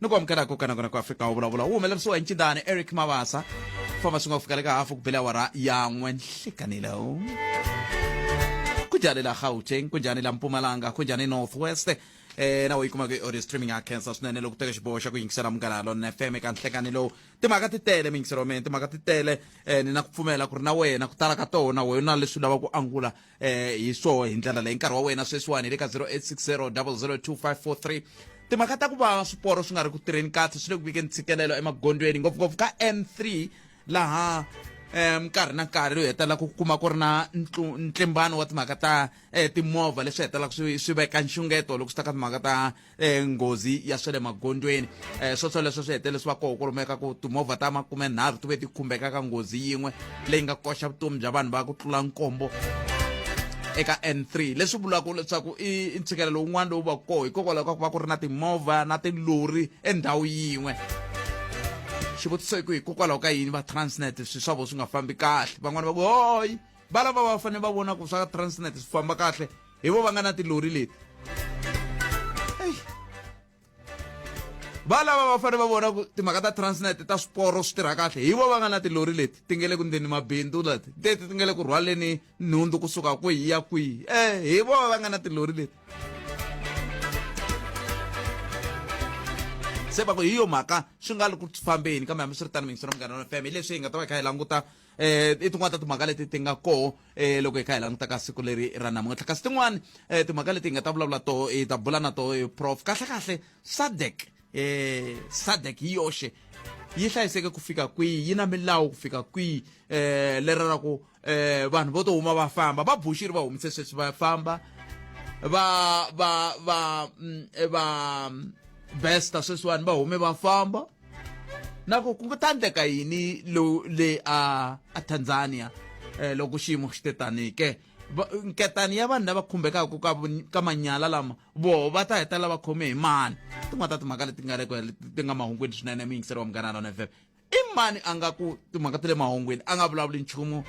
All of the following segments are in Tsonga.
ni ku amukela ku kanakona ku afika wu vulavula wu humelerisiwa hi ncindani eric mavasa famba swi nga ku fika le ka hafu ku bele awara ya n'we nhlikanilo ku njhani la gauteng ku njhani la mpumalanga ku njhani north west eh na wayikuma ku audio streaming ya cancer swinene loko teka xiboho xa ku yingisela munghana lona fm eka nhlekani lowu timhaka ti tele miyingiselo wa mina timhaka ti tele eh ni na ku pfumela ku ri na wena ku tala ka tona wena leswi lava ku angula eh hi swoho hi ndlela leyi nkarhi wa wena sweswiwani hi le ka 0860 002543 timhaka ta ku va swiporo swi nga ri ku tirheni kahle swi le ku vikeni ntshikelelo emagondweni ngopfungopfu ka n3 laha um nkarhi na nkarhi loyi hetelela ku kuma ku ri na ntlimbano wa timhaka ta um timovha leswi hetelelaka swi swi veka nxungeto loko swi ta ka timhaka ta eh, nghozi ya swa le magondzweni eh, swo swoleswo swi hetelele swi va koho ku lumeka ku timovha ta makumenharhu ti ve ti khumbeka ka nghozi yin'we leyi nga koxa vutomi bya vanhu va ku tlula nkombo eka n3 leswi vulaka leswaku i ntshikelelo wun'wana lowu va koho hikokwalaho ka ku va ku ri na timovha na tilori endhawu yin'we xivutiso i ku hikokwalaho ka yini va transnet swi swa vo swi nga fambi kahle van'wani va ku hoyi va lava va fanele va vona ku swa transnet swi famba kahle hi vo va nga na tilori leti va lava va fanele va vona ku timhaka ta transnet ta swiporo swi tirha kahle hi vo va nga na tilori leti ti nge le ku ndeni mabindzu leti teti ti nge le ku rhwaleni nhundzu kusuka kwihi ya kwihi e hi vo va nga na tilori leti se va ku hi yo mhaka swi nga ri ku fambeni kambe hambi swi ri tano mingisero munghana wa fm hi leswi hi nga ta va hi kha hi languta eh i tin'wana ta timhaka leti ti nga koho eh loko hi kha hi languta ka siku leri ra namuntlha kasi tin'wana eh timhaka leti hi nga ta vulavula toho hi ta bula na toho eh, prof kahle kahle sadek eh sadek hi yoxe yi hlayiseke ku fika kwihi yi na milawu ku fika kwihi eh leri ra ku eh vanhu vo to huma va famba va bushiri va humise sweswi va famba va va va mm, eh, va mm, besta sweswiwani va hume va famba na ku ku ta endleka yini le a a tanzania um loko xiyimo xi te tanihi ke nketani ya vanhu lava khumbekaka ka, ka manyala lama voho va ta heta lava khome hi mani tin'wana ta timhaka leti nga reko ti nga mahungwini swinene mi yingiseriwa munghana lona fm i mani a nga ku timhaka ta le mahungwini a nga vulavuli nchumu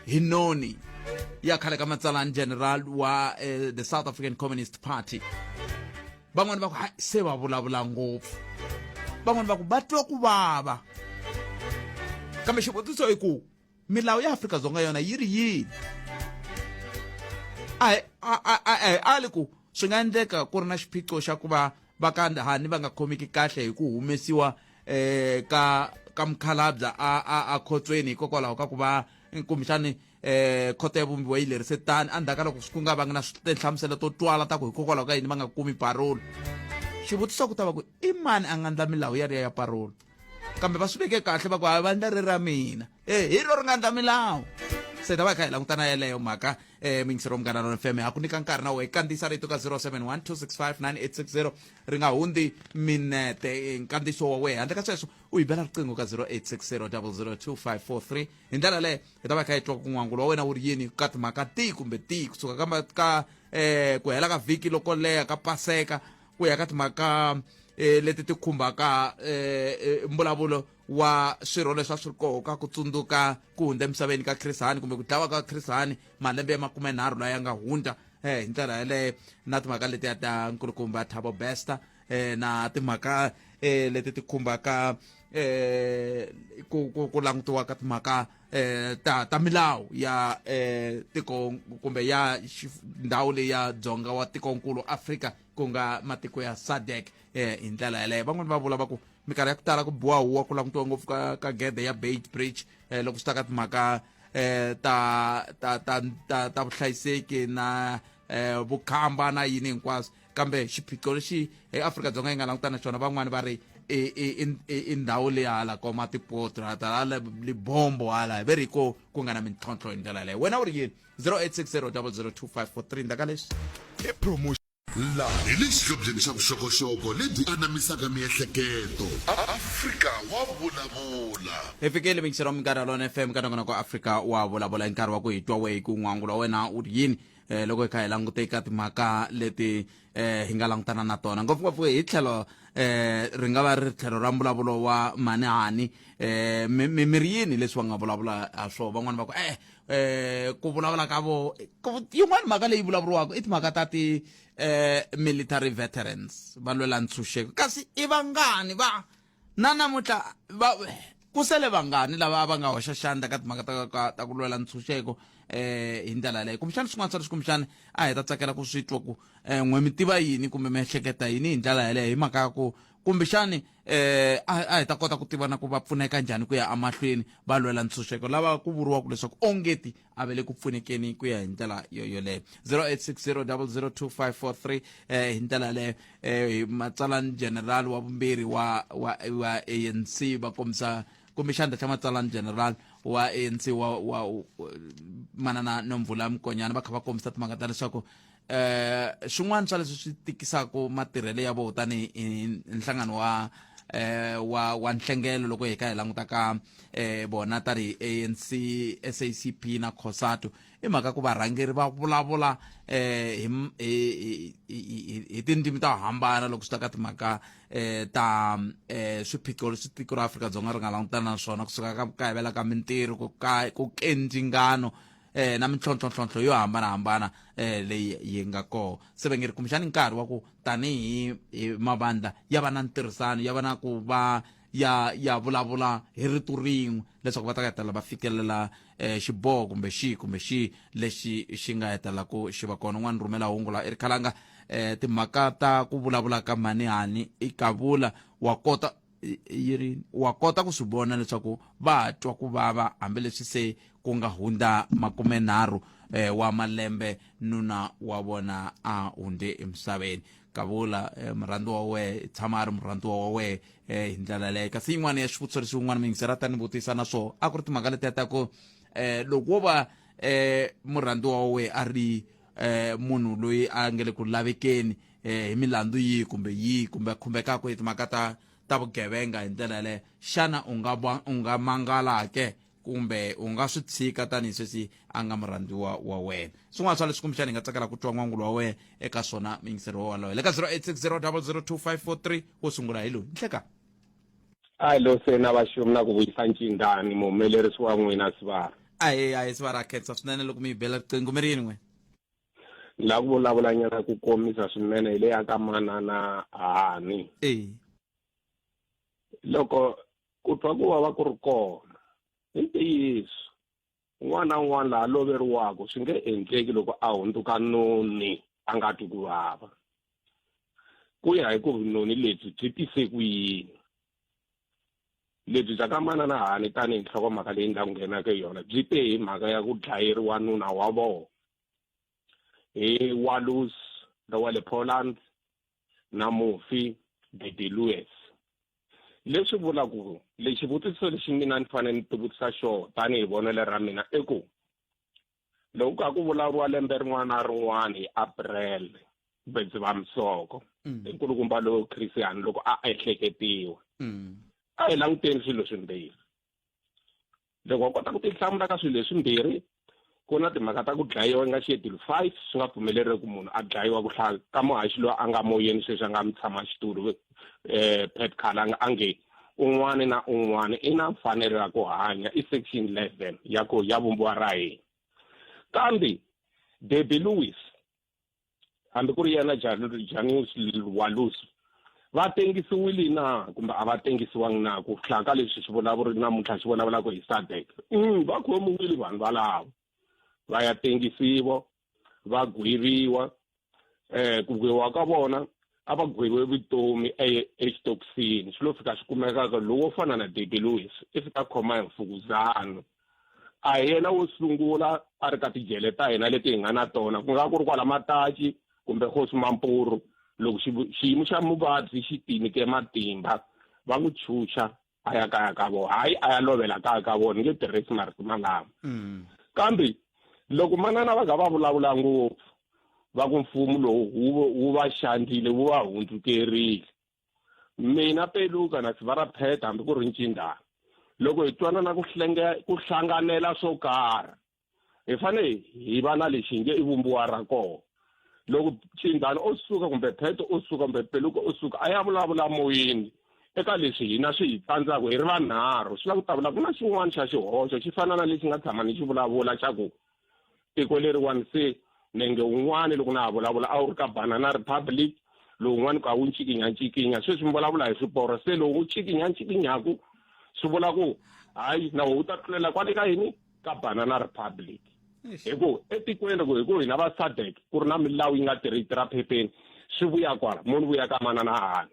hi noni ya khale ka matsalani general wa eh, the south african communist party van'wani va ku hayi se va vulavula ngopfu van'wani va ku va twa ku vava kambe xivutiso i ku milawu ya afrika-dzonga yona yi ri yini a hi ali ku swi nga endleka ku ri na xiphiqo xa ku va va ka ndhani va nga khomeki kahle hi ku humesiwa um ka ka mukhalabya a a a khotsweni hikokwalaho ka ku va kumbexani eh khoto ya vumbiwa yi lerise tani endzhaku ka loko ku nga vangi na tinhlamuselo to twala ta ku hikokwalaho ka yini va nga kumi parolo xivutiso ku ta va ku i mani a nga ndla milawu ya riya ya parolo kambe va swi veke kahle va ku a va ndla ri ra mina e hi ro ri nga ndla milawu se ta va hi kha hi langutana yeleyo mhaka um mingisero munghana lona fm ha ku nyika nkarhi na wo hi kandziyisa rito ka 071 265 9860 ri nga hundzi minete eh, nkandziyiso wa wehe handle ka sweswo u yi bela riqingho ka 0860 002 543 hi ndlela leyo hi ta va hi kha hi twa ku n'wangu wa wena wu ri yini ka timhaka tihi kumbe tihi kusuka ka ka um ku hela ka vhiki loko leha ka paseka ku ya ka timhaka um leti ti khumbaka um mbulavulo wa swirho leswi a swi ri koho ka ku tsundzuka ku hundza emisaveni ka khrisani kumbe ku dlawa ka khrisani malembe ya makumenharhu laya nga hundza um hi ndlela yeleyo na timhaka letiya ta nkulukumba thabo bester eh, na timhaka eh, leti ti khumbaka eh, ku, ku, ku langutiwa ka timhaka eh, ta, ta milawu ya eh, tiko kumbe ya xif- ndhawu leyi ya dzonga wa tikonkulu afrika ku nga matiko ya sadek eh, hi ndlela yeleyo van'wani va vula va ku minkarhi ya ku tala ku biwa huwa ku langutiwa ngopfu ka, ka gede ya bait bridge eh, loko swi ta ka timhaka eh, ta, ta, ta, ta, ta vuhlayiseki na eh, vukhamba na yini hinkwaswo kambe xiphiqo lexi eAfrika-Dzonga yi nga langutana xona van'wani va ri i i i i ndhawu leyi hala ko matipotro hala libombo hala hi ve ri ko ku nga na mintlhontlho hi ndlela leyo wena u ri yini 0860002543 ndaka leswi i promotion laha hi le xihlobyeni xa vuxokoxoko lebyi anamisaka miehleketo afrika wa vulavula hi fikile minxero wa minkarhi ya lona fm ka nongonoko afrika wa vulavula hi nkarhi wa ku hi twa wehi ku n'wangu wa wena u ri yini eh loko hi kha hi langute eka timhaka leti eh hi nga langutana na tona ngopfungopfu hi tlhelo eh ri nga va ri tlhelo ra mbulavulo wa manihani eh mimiri yini leswi va nga vulavula ha swona van'wana va ku eh eh ku vulavula ka vo yin'wana mhaka leyi vulavuriwaka i timhaka ta ti eh military veterans va lwela ntshunxeko kasi i vangani va Na namuntlha va ku sele vangani lava va nga hoxa xandla ka timhaka ta ka ta ku lwela ntshunxeko eh hi ndlela yaleyo kumbexana swin'wana swa leswi kumbexana a hi ta tsakela ku swi twa ku um n'we mi tiva yini kumbe mi ehleketa yini hi ndlela yaleyo hi mhaka ya ku kumbexani um a hi ta kota ku tiva na ku va pfuneka njhani ku ya emahlweni va lwela ntshunxeko lava ku vuriwaka leswaku ongeti a ve le ku pfunekeni ku ya hi ndlela yoyoleyo 0860002543 eh, hi ndlela yaleyo eh, matsalani general wa vumbirhi wa, wa, wa anc va kombisa kumbe xandla xa matsalani general wa anc wa, wa manana nomvula mukonyana va kha va kombisa timhaka ta leswaku eh xin'wana xa leswi swi tikisaka matirhelo ya vona tanihi nhlangano wa eh wa wa nhlengelo loko hi ka hi languta ka eh bona tari ANC SACP na Cosatu i mhaka ku varhangeri va vulavula eh hi hi tindzimi to hambana loko swi ta ka timhaka eh ta eh swiphiqo leswi tiko ra Afrika-Dzonga ri nga langutana na swona kusuka ka ku kayivela ka mintirho ku ka ku kendzingano eh, na mintlhontlhontlhontlho yo hambanahambana eh, leyi yi nga kona se va nge ri kumbexani nkarhi wa ku tanihi hi mavandla ya va na ntirhisano ya va na ku va ya ya vulavula hi rito rin'we leswaku va ta hetelela va fikelela eh, xiboho kumbe xihi kumbe xihi lexi xi nga hetelelaku xi va kona n'wana rhumela hungu la erikhalanga eh, timhaka ta ku vulavula ka mhani hani i kavula wa kota yi ri wa kota ku swi vona leswaku va twa ku vava hambileswi se ku nga hundza makumenharhu eh, wa malembe nuna wa vona a hundze emisaveni kavula eh, murhandu wa wehe tshama a ri murhandu wa wehe eh, hi ndlela leyo kasi yin'wana ya swivutiso leswi wun'wana miyingiseri a ta ni vutisa na swona a ku ri timhaka letiya ta ku eh, loko wo va eh, murhandu wa wehe a ri eh, munhu loyi a nge le ku lavekeni eh, hi milandzu yihi kumbe yihi kumbe khumbekaka hi timhaka ta ta vugevenga hi ndlela yaleyo xana u nga va- u nga mangala ke kumbe u nga swi tshika tanihi sweswi a nga murhandziwa wa wena swin'wana swa leswi kumbexana hi nga tsakela ku twa n'wangulo wa wena eka swona mingiseri wa walowo le ka 0860002543 wo sungula hi loyi nhleka a lo se na vaxumi na ku vuyisa ncingani muhumelerisi wa n'wina sivara ahe ahe siva ra khensa swinene loko mi yi bela riqingho mi ri yini n'we la ku vulavula nyana ku komisa swinene hi leya ka manana hani eyi loko ku twa ku vava ku ri kona hi ntiyiso n'wana un'wana laha loveriwaka swi nge endleki loko a hundzuka noni a nga twi ku vava ku ya hi ku vunoni lebyi byi tise ku yini lebyi bya ka manana hani tanihi nhlokomhaka leyi ndyangu nghenaka hi yona byi te hi mhaka ya ku dlayeriwa nuna wa vona hi walus lowa le poland na mufi dede lewis leswi vulaku lexi vutiso lexi mina ni fanele ni tivutisa xona tanihi vonelo ra mina i ku loko ka ku vulavuriwa lembe rin'wana na rin'wana hi april kumbe dzivamisoko mm. hi nkulukumba lowu christian loko a ehleketiwa mm. a hi languteni swilo swimbirhi loko wa kota ku tihlamula ka swilo leswimbirhi ku na timhaka ta ku dlayiwa nga schedule five swi nga pfumeleriwi ku munhu a dlayiwa ku hlaya ka muhaxi loyi a nga moyeni sweswi a nga mi tshama xitulu um eh, pet khala a nge Un'wana na un'wana i na mfanelo ya ku hanya i section 11 ya ku ya vumbiwa ra hina. Kambe Debbie Lewis hambi ku ri yena Janus Walus va tengisiwile na kumbe a va tengisiwangi na ku hlaya ka leswi swi vulavuri namuntlha swi vulavulaka hi sadek mm, va khomiwile vanhu valavo va ya tengisiwa va gweviwa eh ku gweviwa ka vona a va gweviwe vutomi e, exitokisini xi lo fika xi kumekaka lowo fana na dede lewis i fika khoma hi mfukuzano a hi yena wo sungula a ri ka tijele ta hina leti hi nga na tona ku nga ku ri kwala mataci kumbe hosi mampuru loko xiyimo xa muvabyi xi tinike matimba va n'wi chucha a ya kaya ka vona hayi a ya lovela kaya ka vona nge tirhisi marito malama mm. kambe loko manana va ga va vulavula ngopfu va ku mfumo lowu wu va xandile wu va hundzukerile mina peluka na sivarapheta hambi ku ri ncindana loko hi twanana ku ku hlanganela swo karhi hi fanele hi va na lexi nge i vumbiwa ra kona loko cindhani o suka kumbe pheto o suka kumbe peluka o suka a ya vulavula moyeni eka leswi hina swi hi tsandzaka hi ri vanharhu swi lava ku ta vula ku na xin'wana xa xihoxo xi fana na lexi nga tshama ni xi vulavula xa ku tiko leriwani se nenge wun'wani loko na ha vulavula a wu ri ka banana republic lowun'wani ku a wu ncikinyancikinya sweswi mi vulavula hi swiporo se lowu wu ncikinyancikinyaku swi vula ku hayi na wo wu ta tlulela kwale ka yini ka banana republic hi ku etikweni ku hi ku hina va sadek ku ri na milawu yi nga tirhi tirha phepeni swi vuya kwala munhu vuya ka manana hahani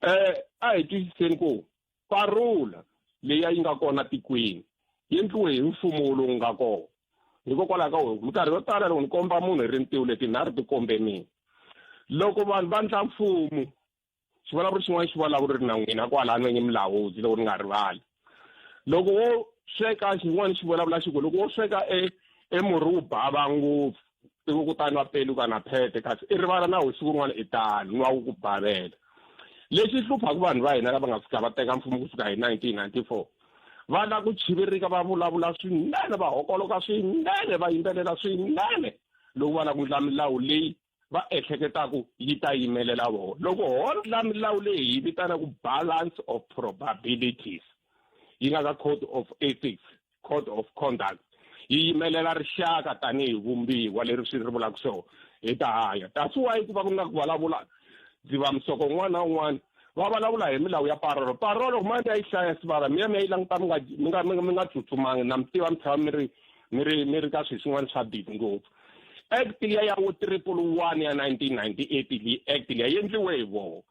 um eh, a hi twisiseni ku parula leyi a yi nga kona tikweni yi endliwe hi mfumo lowu nga kona hikokwalaho ka wona minkarhi yo tala loko ni komba munhu hi rintiwu leti nharhu ti kombe mina loko vanhu va ndla mfumo xivulavuri xin'wana xi vulavuri ri na n'wina kwala nwenyi mulawudzi loko ni nga rivali loko wo sweka xin'wana xi vulavula xi ku loko wo sweka e emurhi wu bava ngopfu i ku kutani wa peli ka na phete kasi i rivala na wu siku rin'wana i tano ni wa wu ku bavela lexi hluphaka vanhu va hina lava nga fika va teka mfumo ku fika hi 1994 va lava ku chivirika va vulavula swinene va hokoloka swinene va yimbelela swinene loko va lava ku ndla milawu leyi va ehleketaka yi ta yimelela vona loko hotla milawu leyi hi vitanaka balance of probabilities yi nga ka code of ethics code of conduct yi yimelela rixaka tanihi vumbiwa leri swi ri vulaka so hi ta hanya that's why ku va ku nga ku vulavula ndzi va musoko un'wana na un'wana va vulavula hi milawu ya parolo parolo kuma mi ya yi hlaya sivara mi ya mi ya yi languta mi nga mi nga mi nga mi nga tsutsumangi na mi tiva mi tshama mi ri mi ri mi ri ka swilo swin'wana swa bidi ngopfu Act liya ya vo triple one ya 1998 leyi act liya yi endliwe hi voho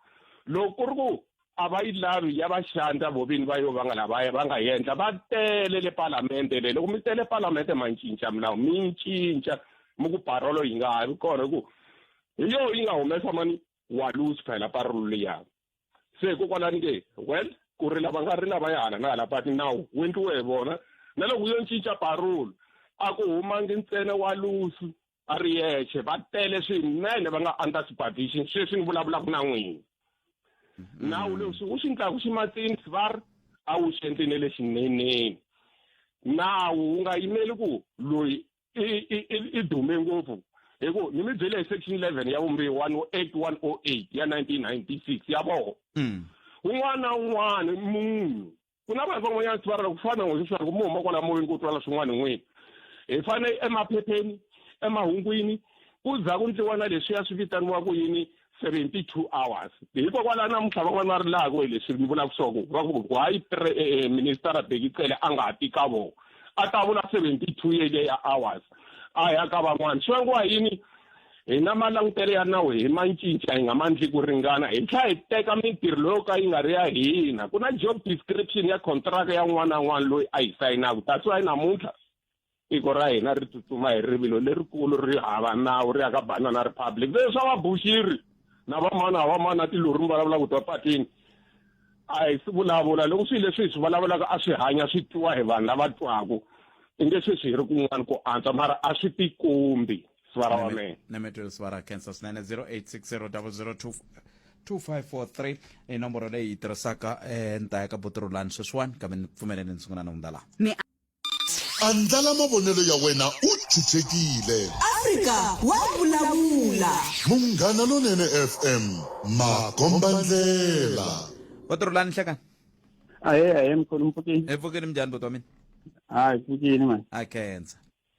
loko ku ri ku a va yi lavi ya va xandla vo vini va yo va nga lava va nga yendla va tele le palamende le loko mi tele palamende ma cinca milawu mi cinca mi ku parolo yi nga ha vi kona hi ku hi yoho yi nga humesa mani wa lose phela parolo liyani se hikokwalani ke well ku ri lava nga ri lava ya hala na hala but nawu wu endliwe hi vona na loko yo cinca parole a ku humangi ntsena wa lusu a ri yexe va tele swinene va nga under supervision sweswi ni vulavulaka na n'wini mm-hmm. nawu leswi wu swi ndlaku xi matsini svar a wu xi endlini lexineneni nawu wu nga yimeli ku loyi i dume ngopfu hi ku ni mi byele hi section eleven ya vumbihi one o eight one o eight ya nineteen ninety six ya voho mm. un'wana na un'wana munhu ku na vanhu van'wanyana swi varela ku fana na n'wina leswaku mi huma kwala moyeni ku twala swin'wana hi n'wina hi fane emaphepheni emahungwini ku za ku ndliwa na leswiya swi vitaniwa ku yini 72 hours hikokwalaho namuntlha van'wana va rilaka hi leswi ni vulaka swa ku va ku why eh, eh, ministara beki cele a nga ha ti ka vona a ta vula 72 yeleyo ya hours a ya ka van'wana swi vangiwa yini hi na malangutelo ya nawu hi ma cinca hi nga ma ndli ku ringana hi tlhela hi teka mintirho leyo ka yi nga ri ya hina ku na job description ya contract ya n'wana na n'wana loyi a yi sayinaka that's why namuntlha tiko ra hina ri tsutsuma hi rivilo lerikulu ri hava nawu ri ya ka banana republic ve swa vabuxiri na vamana a vamana na tilori mi vulavula ku twa patini a hi swi vulavula loko swilo leswi hi swi vulavulaka a swi hanya swi twiwa hi vanhu lava twaku i nge sweswi hi ri kun'wana ku antswa mara a swi tikombi sivara wa mina na metwelo sivara cancer swinene 0860 2543 i nomboro leyi yi tirhisaka eh, nta ya ka botirulani sweswiwani kambe ni pfumeleni ni sungula ni hundza laha Andlala mavonelo ya wena u chuchekile. Afrika wa vulavula. Munghana Lonene FM, makombandlela. Wa ti rhulani nhlekani? Ahee ahee mkhulu mpfukini. Hi pfukile minjhani buti wa mina? Hayi pfukini mani. Ha khensa.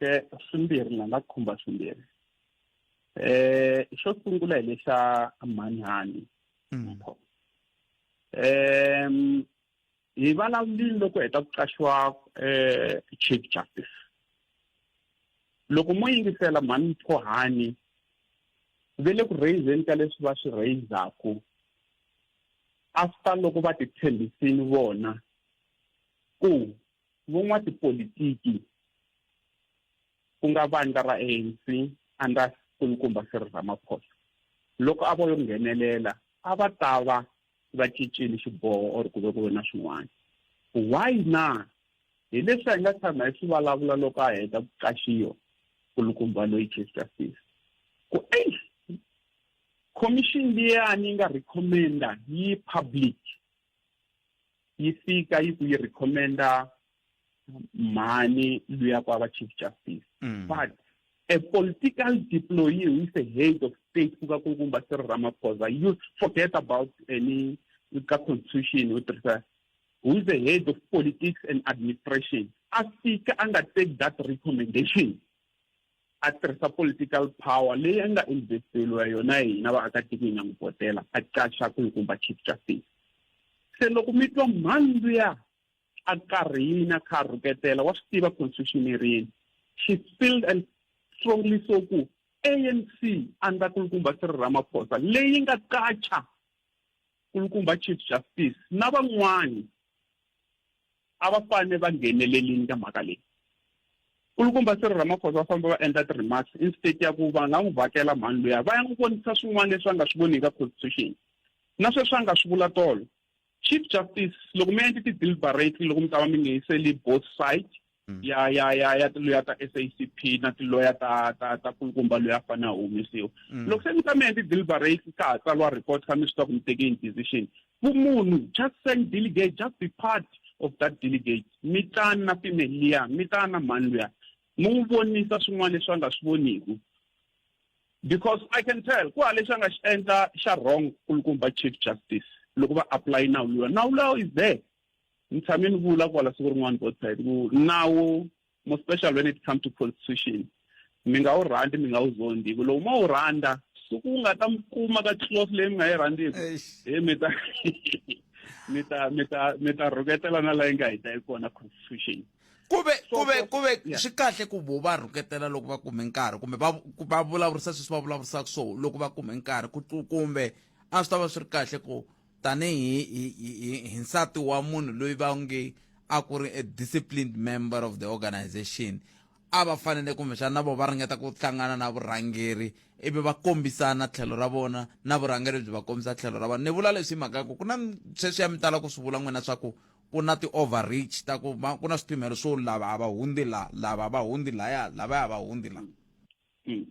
e swimbirhi ni nga khumba swimbirhi eh xo sungula hi lexa manhani mm. em hi vulavulile loko heta ku qaxiwa eh chief justice loko mo yingisela mhani mphohani ve le ku raiseni ka leswi va swi raisaku after loko va titshembisini vona ku Van'watipolitiki ku nga vandla ra ANC andra kulukumba Cyril Ramaphosa loko a vo yo nghenelela a va ta va va cincile xiboho or ku ve ku ve na swin'wana why na hi leswi a hi nga tshama hi swi vulavula loko a heta ku qaxiwa kulukumba loyi chief justice ku eish commission liyani yi nga recommenda yi public yi fika yi ku yi recommenda mhani luya kwaba chief justice mm. but a political deployee who is a head of state kuka kunkumba sir ramaphosa you forget about any ka constitution u tirhisa who is the head of politics and administration a fika a nga take that recommendation a tirhisa political power leyi a nga investeriwa yona hina vaakatiko hi nga n'wi votela a qaxa ku hi kumba chief justice se loko mi twa mhani luya a karhina kha a rhuketela wa swi tiva constitution yi rini she filled and strongly so ku anc a ndza kulukumba swi ri ramaphosa leyi nga qacha Nkulukumba Chief Justice na van'wana a va fane va nghenelelini ka mhaka leyi nkulukumba Cyril Ramaphosa va famba va endla ti-remarks instead ya ku va nga n'wi vhakela mhani luya va ya n'wi vonisa swin'wana leswi a nga swi voni eka constitution na sweswi a nga swi vula tolo chief justice loko mi endli ti-deliberate loko mi ta va mi nga yiseli both side mm. ya ya ya ya tiloya ta SACP na tiloya ta ta ta kulukumba loyi a fane a humesiwa mm. loko se mi ta mi endli deliberate ka ha tsariwa report ka mi swi ta ku mi teke in decision vumunhu just send delegate just be part of that delegate mi tani na female liya mi tani na mhani luya mi n'wi vonisa swin'wana leswi a nga swi voniku because i can tell ku ha lexi a nga xi endla xa wrong kulukumba chief justice loko va apply nawu luya nawu lawo is there ni tshame ni vula kwala siku rin'wana both side ku nawu more special when it comes to constitution mi nga wu rhandi mi nga wu zondi hi ku loko ma wu rhandza suku wu nga ta mi kuma ka close leyi mi nga yi rhandziku he mi ta mi ta mi ta mi ta rhuketela na layi nga hita yi kona constitution kuve kuve kuve swi kahle ku vo va rhuketela loko va kume nkarhi kumbe va va vulavurisa sweswi va vulavurisaka so loko va kume nkarhi kumbe a swi ta va swi ri kahle ku tanihi hi, hi, hi, hi nsati wa munhu loyi va nge a ku ri a disciplined member of the organization a va fanele kumbexana na vo va ringeta ku hlangana na vurhangeri ivi va kombisana tlhelo ra vona na vurhangeri byi va kombisa tlhelo ra vona ni vula leswi hi mhaka ku ku na sweswiya mi tala ku swi vula n'wina swa ku ku na ti-overreach ta ku ku na swipimelo swo lava a va hundzi la lava va hundzi laya lavaya va hundzi la mm.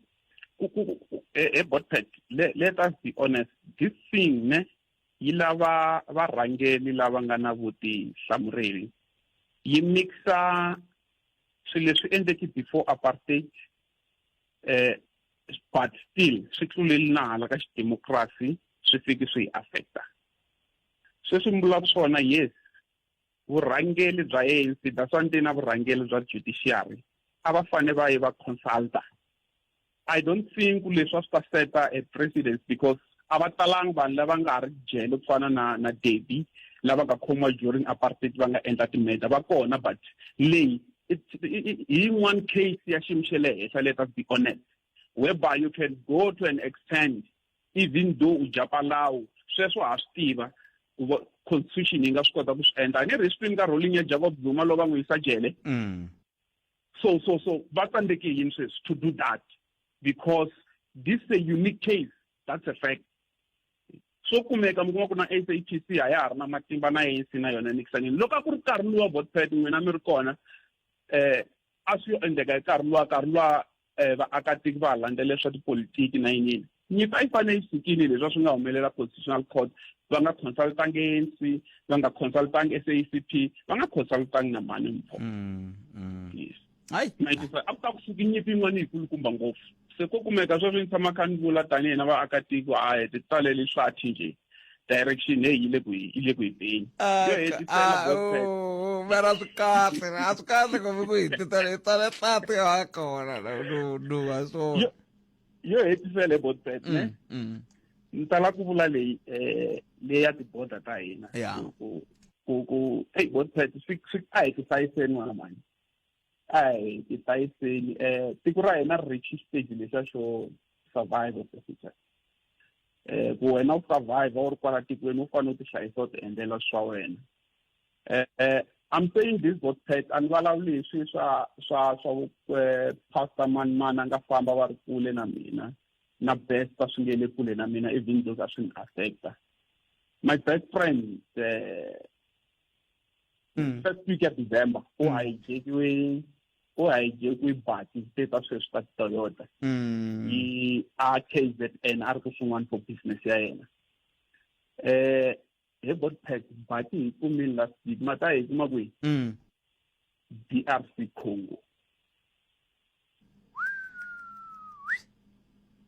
eh, eh, botpet let, let us be honest this thing ne yi lava varhangeli lava nga na vutihlamuleri yi mixa swilo leswi endleki before apartheid eh but still swi tluleli na hala ka xidemokirasi swi fiki swi hi affecta sweswi mbula swona yes vurhangeli bya anc bya swa ntina vurhangeli bya judiciary a va fane va yi va consulta i don't think leswi a swi ta seta a president because a va talanga vanhu lava nga ha ri jele ku fana na na debi lava nga khomiwa during apartheid va nga endla timeda va kona but leyi hi yin'wana case ya xiyimo xa le henhla let us be honest whereby you can go to an extent even though u dya palawu sweswo ha swi tiva ku va constitution yi nga swi kota ku swi endla a ni ri hi swi twi nkarhi wo linya jacob zuma lowu va n'wi yisa jele Mm. so so so va tsandzeke yini sweswi to do that because this is a unique case that's a fact swo kumeka mi kuma ku na SAPC a ya ha ri na matimba na ANC na yona nikisanini loko a ku ri nkarhi luwa vote pad n'wina mi ri kona eh a swi yo endleka hi nkarhi luwa nkarhi luwa um vaakatiko va ha landzelela swa tipolitiki na yinini nyimpi a yi fanele yi sukile leswi a swi nga humelela constitutional court va nga consultangi anc va nga consultangi sacp va nga consultangi na mani mpho mm, mm. yes hayi a ku ta ku suki nyimpi yin'wana yi kulukumba ngopfu se ko kumeka sweswi ni tshama kha ni vula tanihi na vaakatiko a hi ti talele swathi njhe direction leyi yi le ku yi le ku yi beni ah, yo hetisela ah, website oh, mara swi kahle a swi kahle kumbe ku hi titala hi tsale tlati ha kona no no a swona yo hetisela hi website ne mm, mm. ni tala ku vula leyi eh leyi ya tiboda ta hina ku ku ku hey website swi swi a hi ku hlayiseni n'wana mani Hi, ti tayiseli. Eh, tiko ra hina ri reach stage lexa xo survive as a future. Eh, ku wena u survive u ri kwala tikweni u fanele u ti hlayisa u ti endlela swa wena. Eh, eh, I'm saying this got pet and vulavuli hi swi swa swa swa eh, pastor mani mani a nga famba va ri kule na mina na best a swi nge le kule na mina even though a swi ni affecta my best friend eh, hmm. first week ya december ku hmm. hijakiwe ku hijakiwe bati se ta sweswi ta toyota hmm. yi a kzn a ri ku swin'wana for business ya yena um hi botpack bati hi kumini last week ma ta hi kuma kwihi d r c congo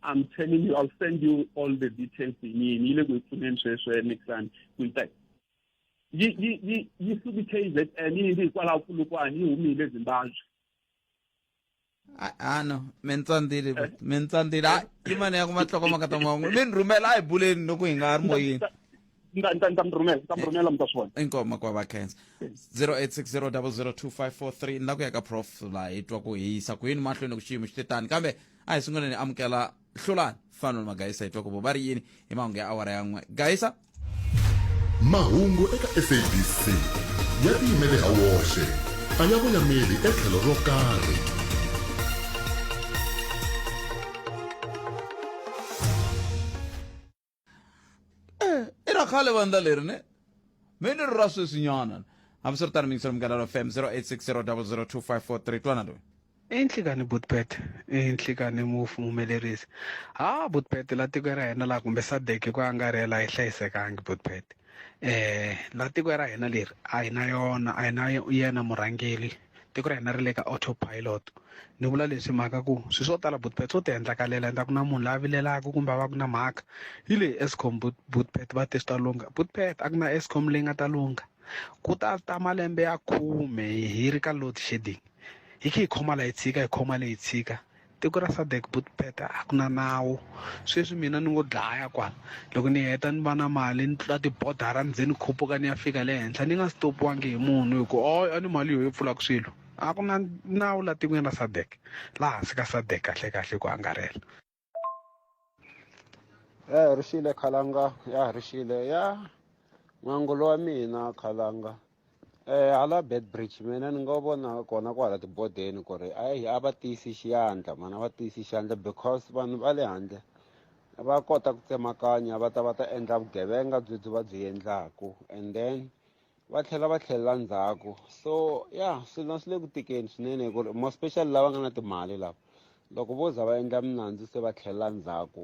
I'm telling you, I'll send you all the details in me. Nile kuifuneni sweswe next time. We'll yi yi yi yi suki KZN yi ndzi hikwalaho Polokwane yi humile Zimbabwe ano mi ni tsandzile eh. mi ni tsandzile hayi yi mani ya ku mahlokomaka ta mahungu mi ni rhumela a hi buleni loko hi nga ha ri moyeni ntamrhumela mtaswona eh. inkoma kwa vakhensa 0860002543 ni la ku ya ka prof laha hi twa ku hi yisa ku yini mahlweni ku xiyimo xi te tani kambe a hi sunguleni amukela hlulani fano ni magayisa hi twa ku vo va ri yini hi mahungu ya awara ya n'we gayisa mahungu eka sabc ya tiyimele ha woxe a ya voyameli etlhelo ro karhi Eh, era khale va ndla leri ne me ni ri ra sweswinyana hambiswiritano mingiselo munghana ra fm 0860002543 twana loyi inhlikani butpet inhlikani mufu mumelerisi ha butpet la tiko ra hina laha kumbe sadek ku angarhela hi hlayisekangi butpet eh la tiko ra hina leri a hi na yona a hi na yena murhangeli tiko ra hina ri le ka autopilot ni vula leswi mhaka ku swi swo tala bootpet swo ti endlakalela endla ku na munhu la vilelaka kumbe a va ku na mhaka yi le escom bootpet va te swi ta lungha bootpet a ku na escom leyi nga ta lungha ku ta ta malembe ya khume hi ri ka load shedding hi khe hi khoma la yi tshika hi khoma leyi tshika tiko ra sadek but peta a ku na nawu sweswi mina ni ngo dlaya kwala loko ni heta ni va na mali ni tlula tibodara ni ze ni khupuka ni ya fika le henhla ni nga stopiwangi hi munhu hi ku o a ni mali yo yi pfulaka swilo a ku na nawu la tikweni ra sadek laha hansi ka sadek kahle kahle ku angarhela ya herixile khalanga ya herixile ya n'wangulo wa mina khalanga um hala bed bridge mina ni nga vona kona kwala tibodeni ku ri ayi a va tiyisi xiyandla mani a va tiyisi xiyandla because vanhu va le handle va kota ku tsemakanya va ta va ta endla vugevenga byebyi va byi endlaku and then va tlhela va tlhelela ndzhaku so ya swilo swi le ku tikeni swinene hi ku ri more special lava nga na timali lava loko vo za va endla minandzu se va tlhelela ndzhaku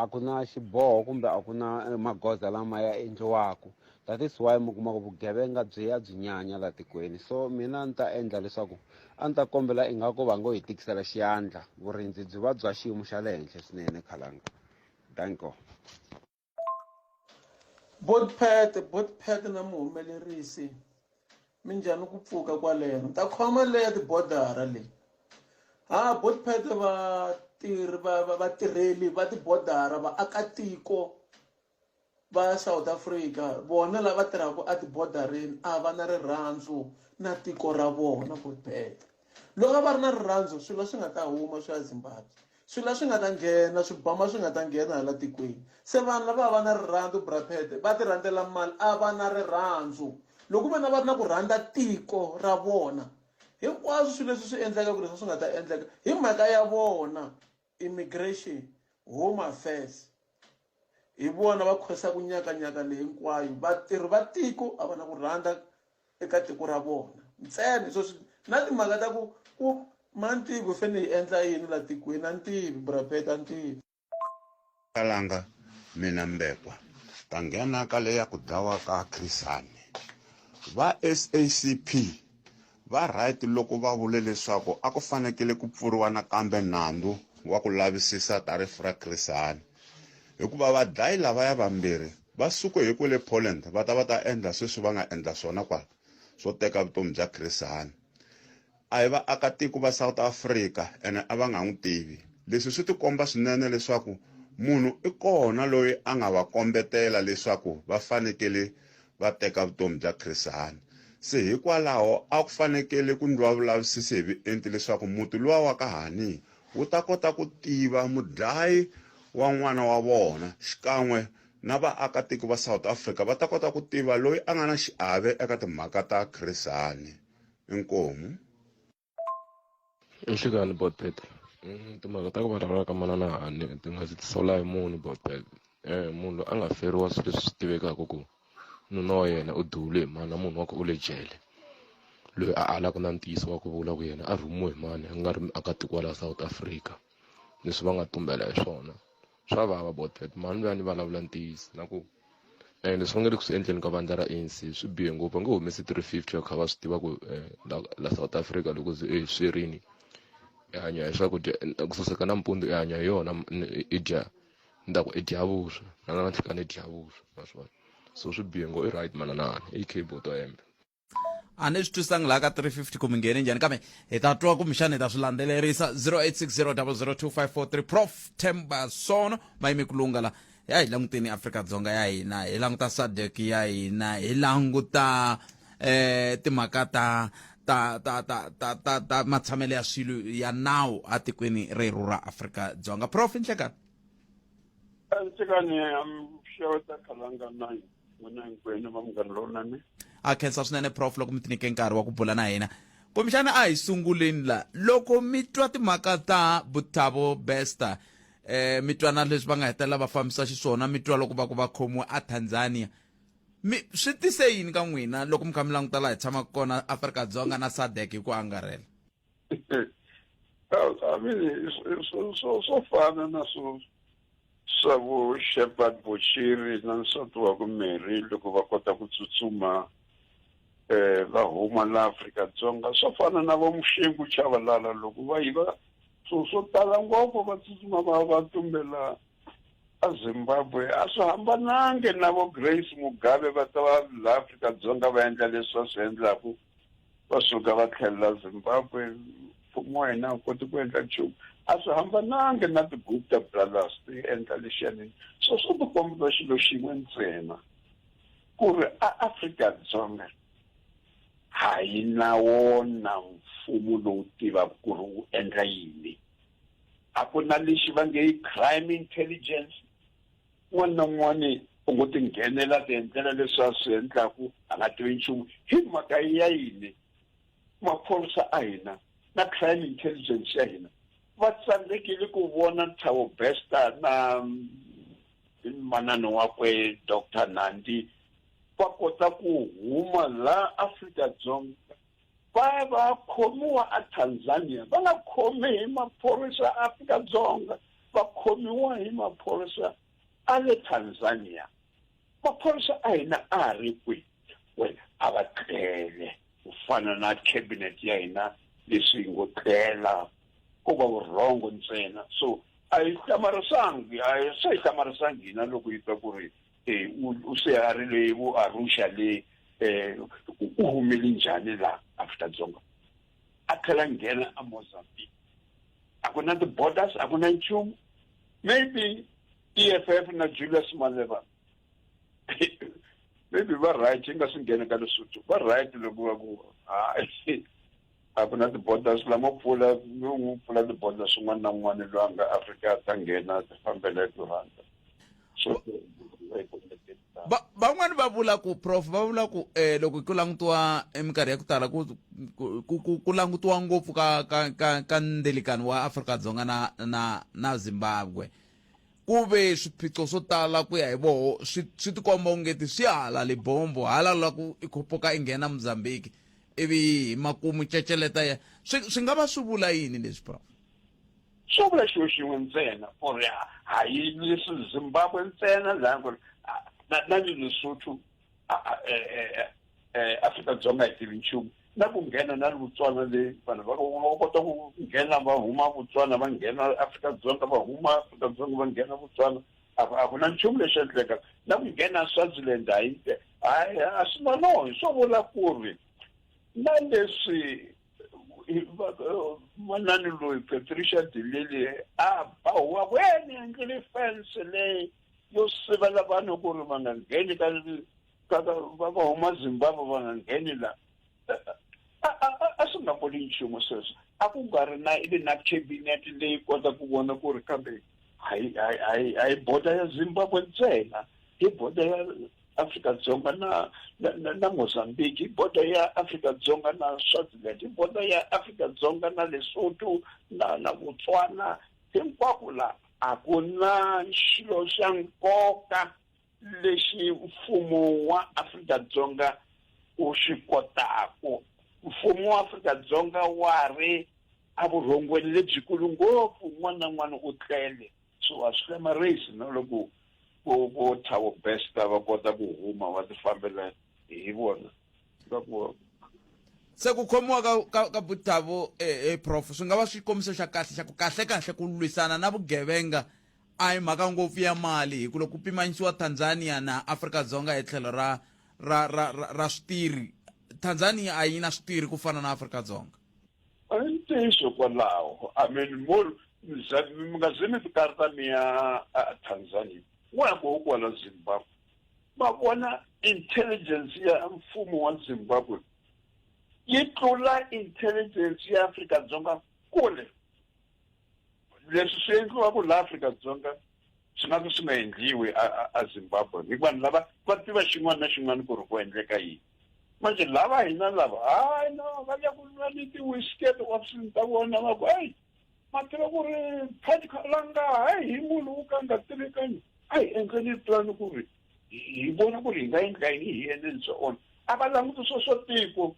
a ku na xiboho kumbe a ku na eh, magoza lama ya endliwaka that is why mi kuma ku vugevenga byi ya byi nyanya la tikweni so mina a ni ta endla leswaku a ni ta kombela ingaku va ngo hi tikisela xiyandla vurindzi byi va bya xiyimo xa le henhla swinene khalanga danko Botpet, Botpet na muhumelerisi minjhani ku pfuka kwaleno ta khoma leya tibodara leyi ha Botpet vatirhi vatirheli va tibodara vaakatiko va South Africa vona lava tirhaka etibodareni a va na rirhandzu na tiko ra vona Botpet loko a va ri na rirhandzu swilo swi nga ta huma swa Zimbabwe swilo leswi nga ta nghena swibama swi nga ta nghena hala tikweni se vanhu lava va va na rirhandzu braphete va ti rhandzela mali a va na rirhandzu loko ku ve na va ri na ku rhandza tiko ra vona hinkwaswo swilo leswi swi endleka ku leswi swi nga ta endleka hi mhaka ya vona immigration home affairs hi vona va khwesaku nyakanyaka leyi hinkwayo vatirhi va tiko a va na ku rhandza eka tiko ra vona ntsena hi sweswi na timhaka ta ku ku mantiko hi fanele hi endla yini la tikweni a ni tivi burapeta a ni tivi kalanga mina mbekwa ta nghena ka leya ku dlawa ka khrisani va sacp Va right loko va vule leswaku a ku fanekele ku pfuriwa nakambe nandzu wa ku lavisisa ta rifu ra Chris Hani hikuva vadlayi lavaya vambirhi va suke hi kwele Poland va ta va ta endla sweswi va nga endla swona kwala swo teka vutomi bya Chris Hani a hi vaakatiko va South Africa ene a va nga n'wi tivi leswi swi tikomba swinene leswaku munhu i kona loyi a nga va kombetela leswaku va fanekele va teka vutomi bya Chris Hani. Se hikwalaho a ku fanekele ku ndliwa vulavisisi hi vuenti leswaku muti luwa wa ka Hani wu ta kota ku tiva mudlayi wa n'wana wa vona xikan'we na vaakatiko va South Africa va ta kota ku tiva loyi a nga na xiave eka timhaka ta Chris Hani. Inkomu. nhlikani botpet mm, timhaka ta ku vulavula ka manana hani ti nga ndzi tisola hi munhu botpet um eh, munhu loyi a nga feriwa swilo leswi swi tivekaka ku nuna wa yena u dule hi mani na munhu wa ku u le jele loyi a alaka na ntiyiso wa ku vula ku yena a rhumiwe hi mani a nga ri muakatiko wa laha south africa leswi va nga tumbela hi swona swa vava about that mhani loyi a ni vulavula ntiyiso na ku um leswi va nge le ku swi endleni ka vandla ra anc swi bihe ngopfu va nge humesi three fifty va kha va swi tiva ku eh, la south africa loko ze eh, swi rini i hanya hi swakudya ku saseka nampundzu i hanya hi yona i dya ni ta ku i dya vuswa na na nhlikani i dya vuswa ma swi vona so swi bihe ngo i right mananana i cable to hembe a ni swi twisanga laha ka 350 ku mi nghene njhani kambe hi ta twa kumbexana hi ta swi landzelerisa 0860002543 prof temba sono mayimi kulunga la ya hi languteni afrika dzonga ya hina hi languta sadek ya hina hi languta eh timhaka ta ta ta ta ta ta ta matshamelo ya swilo ya nawu atikweni reru ra afrika dzonga prof nhlekani nhlekani xeweta khalanga nine n'wina hinkwenu va munghana lowunene a khensa swinene prof loko mi tinike nkarhi wa ku bula na hina kumbexana a hi sunguleni la loko mi twa timhaka ta butabo bester eh mi twa na leswi va nga hetelela va fambisa xiswona mi twa loko va ku va khomiwe a tanzania mi swi tise yini ka n'wina loko mi kha mi languta laha hi tshamaka kona afrika dzonga na sadek hi ku angarhela I mean swo swo swo fana na swo swa vo Shepherd Bochiri na nsati wa ku Mary loko va kota ku tsutsuma eh va huma la Afrika Dzonga swo fana na vo Mushengu Chavalala loko va yiva swo swo tala ngopfu va tsutsuma va va tumbela a Zimbabwe a swi hambanangi na vo Grace Mugabe va ta va la Afrika Dzonga va endla leswi va swi endlaku va suka va tlhelela zimbabwe mfumo wa hina a wu koti ku endla nchumu a swi hambanangi na ti-gupta brothers ti endla lexiyanini so swo ti kombisa xilo xin'we ntsena ku ri aafrika-dzonga ha yi na wona mfumo lowu tivaka ku ri wu endla yini a ku na lexi va nge i crime intelligence un'wana na un'wana u ngo ti nghenela ti endlela leswi a swi endlaku a nga tivi nchumu hi mhaka ya yini maphorisa a hina na crime intelligence ya hina va tsandzekile ku vona nthavo besta na mm, manana wakwe doctor nandi va kota ku huma laha afrika dzonga Va va khomiwa a Tanzania va nga khomi hi maphorisa a Afrika-Dzonga va khomiwa hi maphorisa a le Tanzania maphorisa a hina a ha ri kwihi wena a va tlele ku fana na cabinet ya hina leswi ngo tlela ko va vurhongo ntsena so a yi hlamarisangi a se yi hlamarisangi hina loko yi ta ku ri eh, u se a ri le vo arusha le um u humele njhani laha afrika dzonga a tlhela nghena a mozambique a ku na ti-borders a ku na nchumu maybe e f f na julius maleva maybe va right yi nga swi nghena ka lesotho va right loko va ku hayi a ku na tiboda swi lama pfula n'wi pfula tiboda swin'wana na n'wana loyi a nga afrika a ta nghena ti fambela hi turhanda so van'wani va vula ku prof va vula ku eh loko ku langutiwa eminkarhi ya ku tala ku ku ku langutiwa ngopfu ka ka ka ka ndelikani wa Afrika-Dzonga na na na Zimbabwe Ku ve swiphiqo swo tala ku ya hi voho swi swi tikomba ungeti swi hala Libombo, hala la ku i khopoka i nghena Mozambique ivi hi makumu ceceleta ya swi swi nga va swi vula yini leswi Prof? Swo vula xilo xin'we ntsena ku ri a hi Zimbabwe ntsena laha ku ri na na le Lesotho Afrika-Dzonga hi tivi nchumu na ku nghena na Botswana leyi vanhu va va kota ku nghena va huma Botswana va nghena Afrika-Dzonga va huma Afrika-Dzonga va nghena Botswana a a ku na nchumu lexi endleka na ku nghena Swaziland a yi hayi a swi na no hi swo vula ku ri na leswi manani loyi Patricia de Lille a ba huwa ku he ni endlile fence leyi yo sivela vanhu ku ri va nga ngheni ka ka ka va va huma zimbabwe va nga ngheni la a a a- a swi nga voni nchumu sweswo a ku nga ri na ivi na cabinet leyi kota ku vona ku ri kambe hayi hayi hayi hayi border ya zimbabwe ntsena hi border ya afrika dzonga na na, na, na mozambique hi border ya afrika dzonga na swaziland hi border ya afrika dzonga na lesotho na na botswana hinkwako laha A ku na xilo xa nkoka lexi mfumo wa Afrika-Dzonga wu xi kotaku. Mfumo wa Afrika-Dzonga wa ri a vurhongweni lebyikulu ngopfu, un'wana na un'wana u tlele. So a swi hlamarisi na loko vo vo Thabo Bester va kota ku huma va ti fambela hi vona. swa ku se ku khomiwa ka ka, ka butavo eh, eh, prof swi nga va xikombiso xa kahle xa ku kahle kahle ku lwisana na vugevenga a hi mhaka ngopfu ya mali hi ku loko ku pimanyisiwa tanzania na afrika dzonga hi tlhelo ra ra ra ra, ra switirhi tanzania a yi na switirhi ku fana na afrika dzonga a yi ntiyiso kwalaho i mean more mi nga ze mi ti karata mi ya a tanzania wa ya koho kwala zimbabwe va vona intelligence ya mfumo wa zimbabwe yi tlula intelligence ya afrika dzonga kule leswi swi endliwaka laha afrika dzonga swi nga ka swi nga endliwi azimbabwe hi vanhu lava va tiva xin'wana na xin'wana ku ri ku endleka yini manje lava hina lava hayi no va le ku nwa ni ti-whisket option ta vona va ku hayi mativa ku ri phenikha la nga ha hi munhu wo ka nga tivekanyi a hi endleni plan ku ri hi vona ku ri hi nga endla yini hi endleni bya ona a va languti swo swa tiko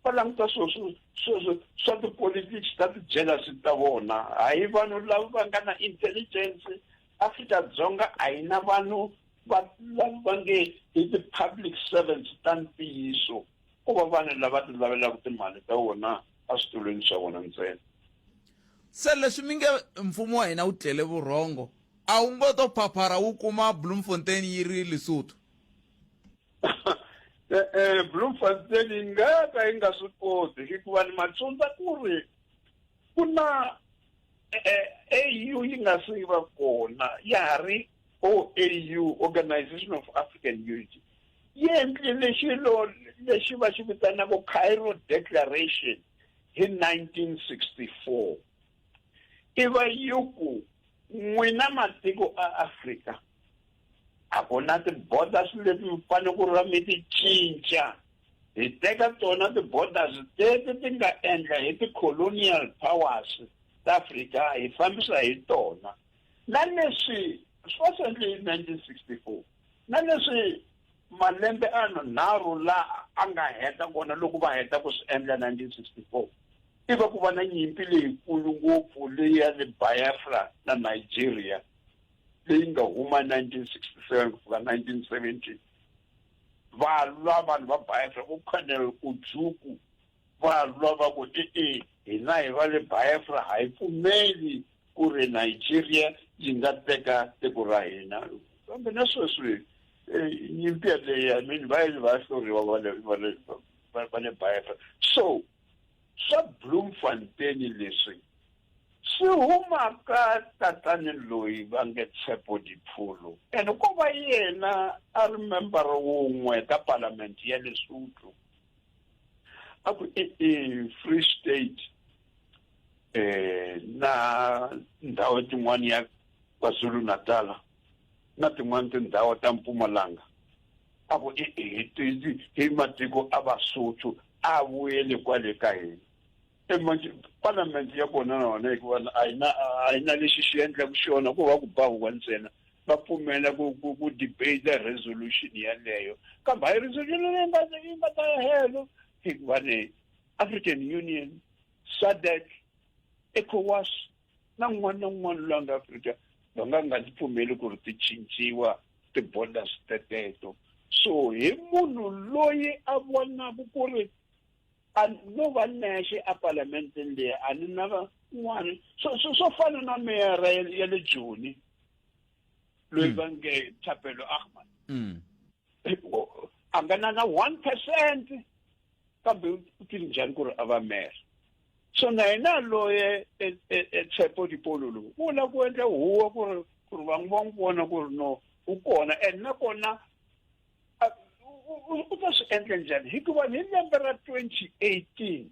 va languta swo swo swa tipolitics ta ti-jealousy ta vona hayi vanhu lava va nga na intelligence afrika-dzonga a yi na vanhu va va nge i ti-public servants ta ntiyiso ko va vanhu lava ti lavelaka timali ta vona eswitulwini swa vona ntsena se leswi mi nge mfumo wa hina wu tlele vurhongo a wu ngo to phaphara wu kuma bloemfontein yi ri lesotho eh, eh, bloemfontein yi nga ka yi nga swi koti hikuva ni matsundza ku ri ku na eh, au yi nga se va kona ya ha ri oau organization of african unity yi endlile xilo lexi va xi vitanaka Cairo Declaration hi 1964 i va yi ku n'wina matiko a Afrika a ku na ti-borders leti mi fanele ku ra mi ti cinca hi teka tona ti-borders teti ti nga endla hi ti-colonial powers ta Afrika hi fambisa hi tona na leswi swi va swi endle hi 1964 Na leswi malembe anharhu la a nga heta kona loko va heta ku swi endla 1964 i va ku va na nyimpi leyikulu ngopfu leyi ya le Biafra na Nigeria leyi nga huma 1967 ku fika 1970 va lwa vanhu va Biafra ku Colonel Ojukwu Va lwa va ku, E-e, hina hi va le Biafra ha hi pfumeli ku ri Nigeria yi nga teka tiko ra hina. Kambe na sweswi nyimpi yaleyo, I mean, va yile va ya hluriwa va le va le va le Biafra. So swa Bloemfontein leswi swi huma ka tatani loyi va nge Tshepo Dipholo and ko va yena a ri member wun'we ka parliament ya Lesotho. a ku i i free state eh na ndhawu tin'wana ya kwazulu natala na tin'wana tindhawu ta mpumalanga a ku i i hi matiko a vasotho a vuyele kwale ka hina e manje parliament ya kona na yona hikuva a yi na a yi na lexi xi endlaku xona ko va ku ba huwa ntsena va pfumela ku ku ku debate resolution yeleyo kambe hayi resolution leyi nga yi nga ta ya helo hikuva ni african union sadec ecowas na n'wana na n'wana loyi a nga afrika va nga nga ti pfumeli ku ri ti cinciwa ti-borders teteto so hi munhu loyi a vonaku ku ri a no va nexe a palamenteni leyi a ni na van'wana swo swo swo fana na meyara ya ya le joni loyi va nge thapelo ahmad Mm. O- a nga na na one percent kambe u tiri njhani ku ri a va mera so na yena loye e- e- e tshepo dipolo lowu u lava ku endla huwa ku ri ku ri van'we va n'wi vona ku ri no u kona and nakona a- u- u- u- u ta swi endla njhani hikuva hi lembe ra 2018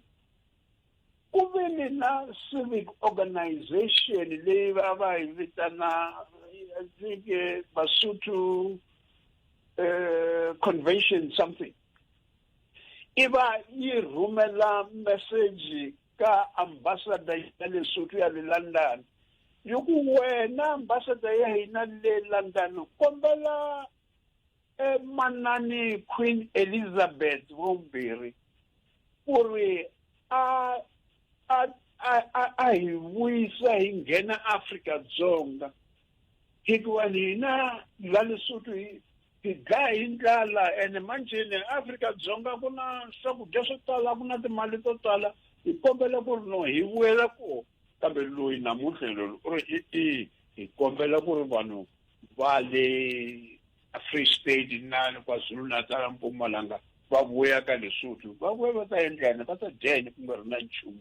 ku ve ni na civic organization leyi va va yi vitana I think, eh, basotho eh, convention something i va yi rhumela message ka ambassador ya lesotho ya le london yi ku wena ambassador ya hina le london kombela emanani queen elizabeth vumbirhi ku ri a a a a hi vuyisa hi nghena afrika dzonga hikuva hina la lesotho hi hi dlaya hi ndlala ene manjheni afrika dzonga ku na swakudya swo tala ku na timali to tala hi kombela ku ri no hi vuyela ko kambe loyi namuntlha loyi u ri i-i hi kombela ku ri vanhu va le Free State inani KwaZulu Natal Mpumalanga va vuya ka Lesotho va vuya va ta endlani va ta dya yini ku nga ri na nchumu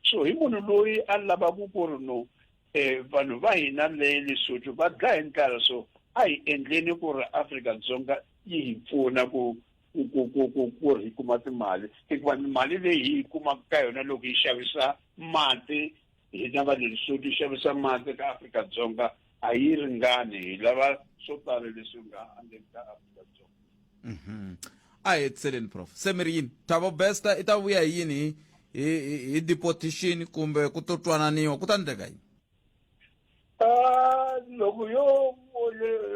so hi munhu loyi a lavaku ku ri no um vanhu va hina le Lesotho va dya hi ndlala so a hi endleni ku ri Afrika-Dzonga yi hi pfuna ku ku ku ku ku ku ri hi kuma timali hikuva mali leyi hi yi kumaka ka yona loko yi xavisa mati hina va le Lesotho yi xavisa mati ka Afrika-Dzonga a yi ringani hi lava swo tala leswi nga endleni ka afrika-dzonga mhm. a hi hetiseleni prof se mi ri yini thabo besta i ta vuya hi yini hi hi hi deportation kumbe ku to twananiwa ku ta endleka yini ah, loko yo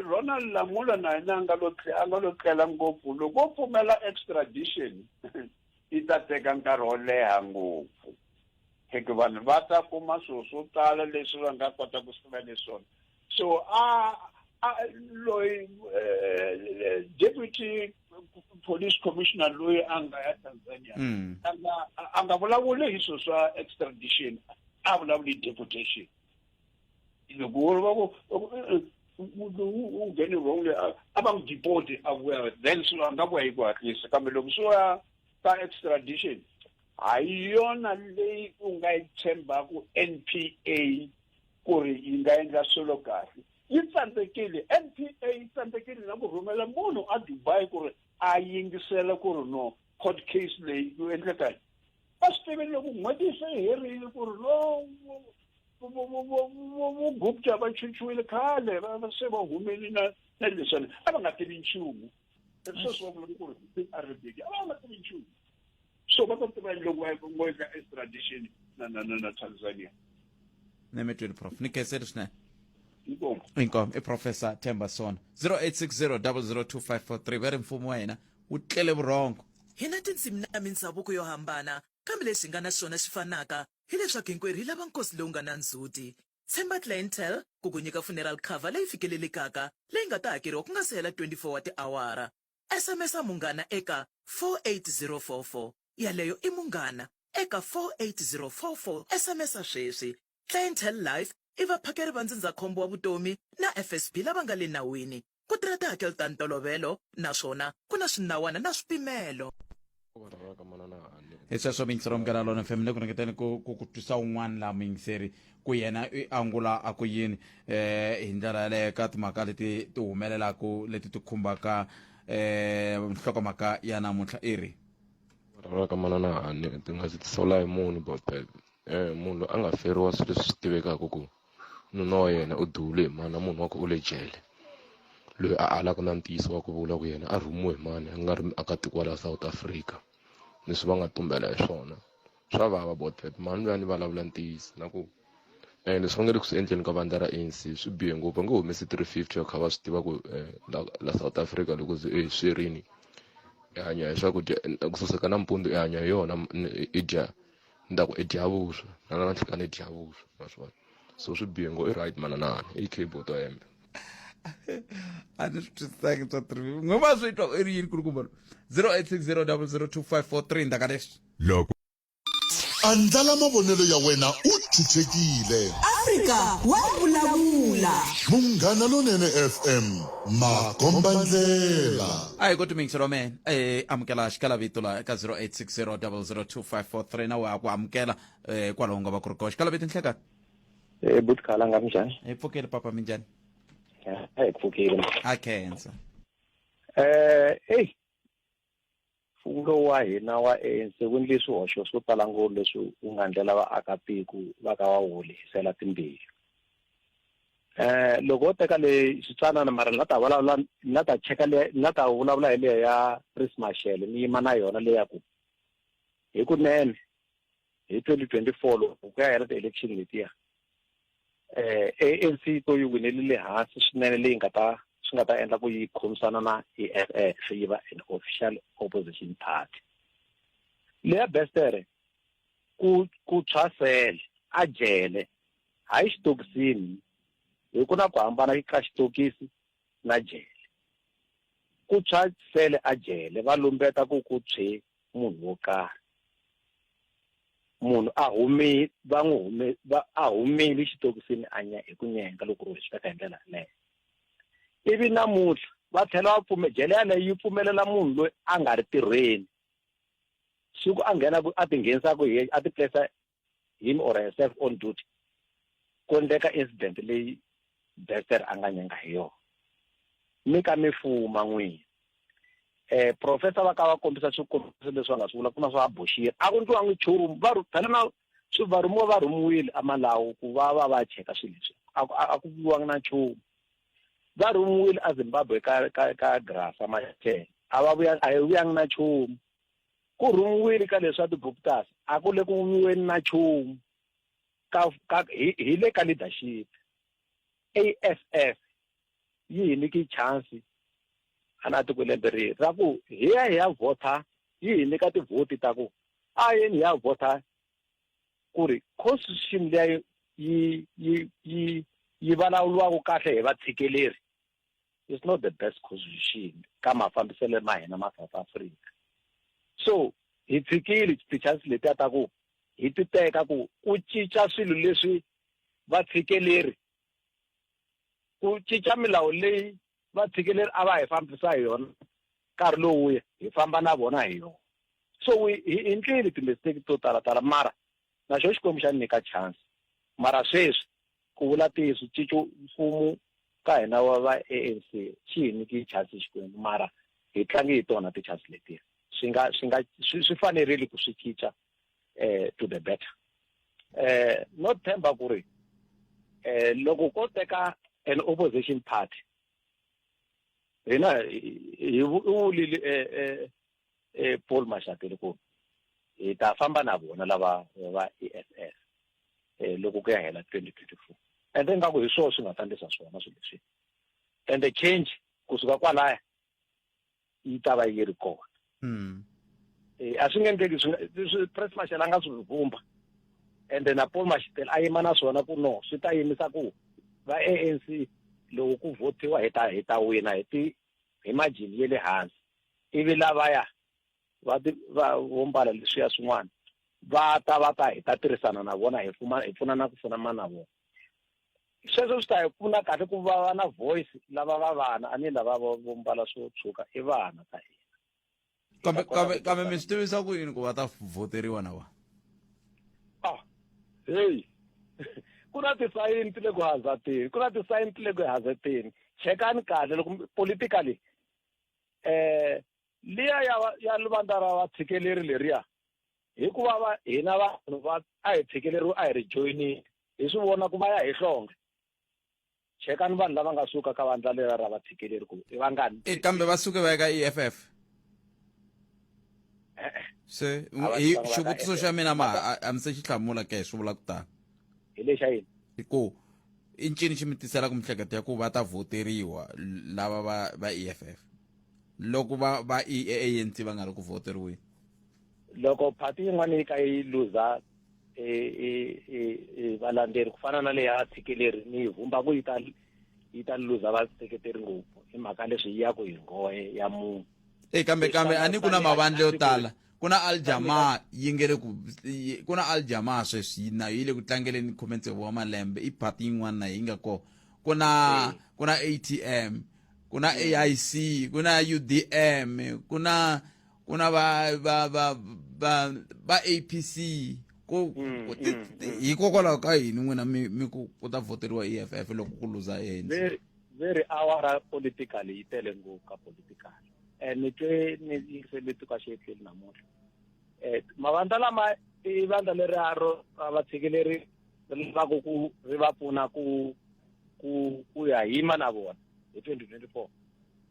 ronald lamula na yena a nga lo a nga lo tlela ngopfu loko o pfumela extradition Yi ta teka nkarhi wo leha ngopfu hikuva vanhu va ta kuma swilo swo tala leswi va nga kota ku sivela leswona so a a loyi eh, deputy police commissioner loyi a nga ya tanzania mm. a nga vulavuli hi swilo swa extradition a vulavuli hi deportation loko wo va ku munhu u nghene wrong le a va n'wi deporte a vuya then swi va nga vuya hi ku hatlisa kambe loko swi va ka extradition a yi yona leyi u nga yi tshembaka n p a ku ri yi nga endla swilo kahle yi tsandzekile n p a yi tsandzekile na ku rhumela munhu a dubai ku ri a yingisela ku ri no court case leyi ku endleka va swi tivile loko n'hweti se yi herile ku ri lo vugupta va chuchiwile khale va se va humeli na na leswani a va nga tivi nchumu sweswi va vulaka ku ri big a ri big a va nga tivi nchumu so va ta tiva loko va ngo endla extradition na na na na tanzania ne mi twini prof ni khenseli swinene inkomo inkomo i professor themba sona 0860 002 543 va ri mfumo wa hina wu tlele vurhongo. Hi na tindzimi na mindzhavuko yo hambana, kambe lexi hi nga na xona xi fanaka hi leswaku hinkwerhu hi lava nkosi lowu nga na ndzhuti. Tshemba Clientele ku ku nyika funeral cover leyi fikelelekaka leyi nga ta hakeriwa ku nga si hela 24 wa tiawara. SMS-a Munghana eka 48044. Yaleyo i Munghana eka 48044. SMS-a sweswi. Clientele Life i vaphakeri va ndzindzakhombo wa vutomi na FSB lava nga le nawini. Ku tirha tihakelo ta ntolovelo naswona ku na swinawana na swipimelo. hi sweswo miyingiseri wa mugana lona fm le ku ringeteni ku ku ku twisa un'wana laha muyingiseri ku yena i angula a ku yini um hi ndlela yaleyo ka timhaka leti ti humelelaka leti ti khumbaka um nhlokomhaka ya namuntlha i ri raka manana hani ti nga si tisawula hi munhu botele Eh, munhu loyi a nga feriwa swilo leswi swi tivekaka ku nuna wa yena u dule hi mani na munhu wa ku u le jele loyi a alaka na ntiyiso wa ku vula ku yena a rhumiwe hi mani a nga ri akatiko wa laha south africa leswi va nga tumbela hi swona swa vava about that mani loyi a ni vulavula ntiyiso na ku um leswi va nge le ku swi endleni ka vandla ra anc swi bihe ngopfu va nge humesi three fifty va kha va swi tiva ku eh, la, la south africa loko ze e swi rini i hanya hi swakudya ku saseka nampundzu i hanya hi yona i dya ni ta ku i dyavuswa na lava nhlikani i dyavuswa ma swi vona so swi bihe ngo i right mananana i cable to hembe a ni swi twisisaki swa three n'we va swi twa i ri yini kulukumba lo zero eight six zero double zero two five four three ndaka leswi loko andlala mavonelo ya wena u chuchekile afrika wa vulavula munghana lonene fm makombandlela a hi ku timingiselo mena eh amukela xikala vito la eka 0860 002 five four three na we a ku amukela eh, hikwalaho nga va ku ri koxa kalabe tinhleka Eh, buti khala nga minjhani hi pfukeli papa minjhani Eh, a hi pfukile ma a khensa eh eyi mfumo lowu wa hina wa anc wu endle swihoxo swo tala ngopfu leswi wu nga ndlela vaakatiko va ka va wu lehisela timbilu eh loko wo teka le xitsanana mara ni nga ta vulavula ni nga ta cheka le ni nga ta vulavula hi leyo ya chris mashele ni yima na yona leya ku hikunene hi 2024 loko ku ya hela ti-election letiya um anc yi to yi winele le hansi swinene leyi nga ta swi nga ta endla ku yi khomisana na e f f yi va an official opposition party leya bestere ku ku tshwasele a jele hayi xitokisini hi ku na ku hambana ka xitokisi na jele. Ku tshwa sele a jele va lumbeta ku ku tshwe munhu wo karhi. Munhu a humi va n'wi hume va a humile xitokisini a nya hi ku nyenga loko ro swi teka hi ndlela yaleyo. Ivi namuntlha va tlhela va pfume jele yaleyo yi pfumelela munhu loyi a nga ri tirhweni siku a nghenaku a tinghenisaka hi a ti place him or herself on duty ku endleka incident leyi Dexter a nga nyenga hi yona mi ka mi fuma n'wini eh professor va ka va kombisa swikombiso leswi va nga swi vula ku na swa boxiri a ku ndliwangi nchumu va phela na swi va rhumiwa va rhumiwile amalawu ku va va va cheka swilo leswi a ku viwanga na nchumu va rhumiwile azimbabwe ka ka ka grasa machela a va vuya a hi vuyanga na nchumu Ku rhungiwile ka leswa ti-Guptas a ku le ku n'wiweni na nchumu ka, ka, hi, hi le ka leadership. AFF yi hi nyike chansi hala tiko lembe ri ra ku hi ya hi ya vhotha yi hi nyika tivhoti ta ku a yeni hi ya vhotha ku ri constitution leyi yi yi yi yi vulavuriwaka kahle hi vatshikileri is not the best constitution ka mafambiselo ma hina ma south africa so hi tshikile ti-chance letiya ta ku hi ti teka ku ku cinca swilo leswi va tshikeleri ku cinca milawu leyi va tshikeleri a va hi fambisa hi yona nkarhi lowuya hi famba na vona hi yona so hi endlile timisteki to talatala mara Na xo Xikwembu xa ni nyika chansi. Mara sweswi, ku vula ntiyiso, ncico mfumo ka hina wa va ANC xi hi nyiki chansi Xikwembu, mara hi tlangi hi tona tichansi letiya. Swi nga, swi nga, swi, swi fanerile ku swi cinca eh, to the better. Eh, no tshemba ku ri eh, loko ko teka an opposition party, hina hi, hi, hi vulile eh, eh, e Paul Mashatile ku hi ta famba na vona lava va EFF eh loko ku ya hela 2024 and then ngaku hi swona swi nga ta ndlisa swona swilo leswi and the change kusuka kwalaya yi ta va yi ri kona mm. eh a swi nge endleki swi press marshal a nga swi vumba and then Paul Mashatile a yima na swona ku no swi ta yimisa ku va ANC loko ku votiwa hi ta hi ta wina hi ti hi majini ya le hansi ivi lavaya va ti va vo mbala leswiya swin'wana va ta va ta hi ta tirhisana na vona hi pfuma hi pfuna na ku pfuna ma na vona sweswo swi ta hi pfuna kahle ku va va na voice lava va vana a ni lava vo mbala swo tshuka i vana ka hina kambe kambe kambe mi swi tivisa ku yini ku va ta voteriwa na wa ah heyi ku na tisayini ti le ku hazateni ku na tisayini ti le ku hazateni chekani kahle loko politically eh liya ya ya livandla ra vatshikeleli leriya hikuva va hina vanhu va a hi tshikeleriwa a hi ri joyinile hi swi vona ku va ya hi hlonge chekani vanhu lava nga suka ka vandla lera ra vatshikeleli ku i vangani e kambe va suke va ya ka e f f e-e se A va hi tivanga va xivutiso ka xa EFF. mina ma a- a mi se xi hlamula ke swi vula ku tani hi lexa yini hi ku i ncini xi mi tisela ku mihleketo ya ku va ta voteriwa l- lava va va e f f loko va va i e anc va nga ri ku voteriweni loko party yin'wana yi ka yi luza valandzeri ku fana na leya tshikileri ni vumba ku yi ta yi ta luza vaseketeri ngopfu hi mhaka leswi yi ya ku hi nghohe ya munhu e kambe kambe a ni ku na mavandla yo tala ku na aljama yi nge le ku ku na aljama sweswi nayo yi le ku tlangeleni khume tsevu wa malembe i party yin'wana na yi nga kona ku na ku na atm ku na aic ku na udm ku na kuna va va va va va apc ku Mm, ku- ti- mm, ti- mm. hikokwalaho ka yini n'wina mi mi ku ku ta voteriwa eff loko ku luza ANC very very awara political yi tele ngopfu ka political and ni twe ni yingisele tuka xietleli namuntlha um mavandla lama i vandla leri a ro a va tshikileri ri lavaka ku ri va pfuna ku ku ku ya yima na vona hi twenty twenty four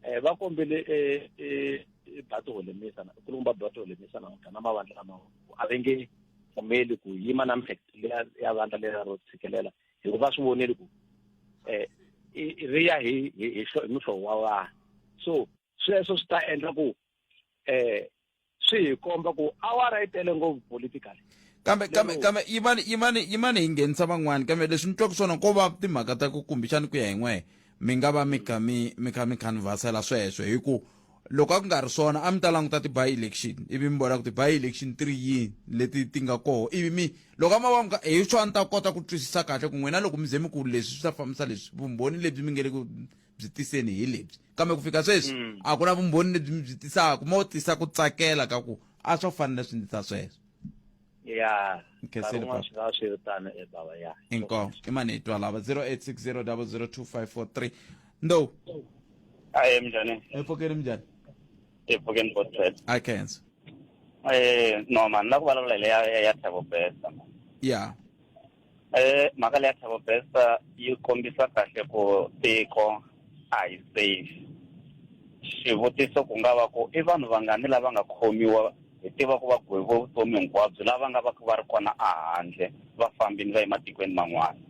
eh, va kombele eh, eh, bato holemisa nkulukumba wa bato holemisa namuntlha na mavandla lama a va nge pfumeli ku yima na mihleketo ya vandla lela ro tshikelela hikuva va swi voneli ku um ri ya hi hi hi muhlovo wa vanhu so sweswo swi ta endla ku um swi hi komba ku awara yi tele ngopfu politically kambe kambe kambe yimani yimani yimani hi nghenisa van'wana kambe leswi ni twaka swona ko va timhaka ta ku kumbexani ku ya hi n'wehe mi nga va mi kha mi mi kha mi canvasela sweswo hi ku loko a ku nga ri swona a mi ta languta ti-by election ivi mi vona ku ti-by election ti ri yini leti ti nga koho ivi mi loko a ma va mi ka hi swo a ni ta kota ku twisisa kahle ku n'wina loko mi ze mi ku leswi swi ta fambisa leswi vumbhoni lebyi mi nge le ku byi tiseni hi lebyi kambe ku fika sweswi mm. a ku na vumbhoni lebyi mi byi tisaka mo tisa ku tsakela ka ku a swo fanele swi ndzi ta sweswo ya kheseliaswiritano e baba ya inko i mani hi twa lava 0860002543 ndo aye mnjani epfokeni mnjani epfokeni botswet i cancer eh no man la ku vulavula hi leya ya thabo besa ya Eh, mhaka leya Thabo Bester yi kombisa kahle ku tiko a hi safe xivutiso ku nga va ku i vanhu vangani lava nga khomiwa hi tiva ku va gweviwe vutomi hinkwabyo lava nga va ku va ri kona ehandle va fambini va ye matikweni man'wana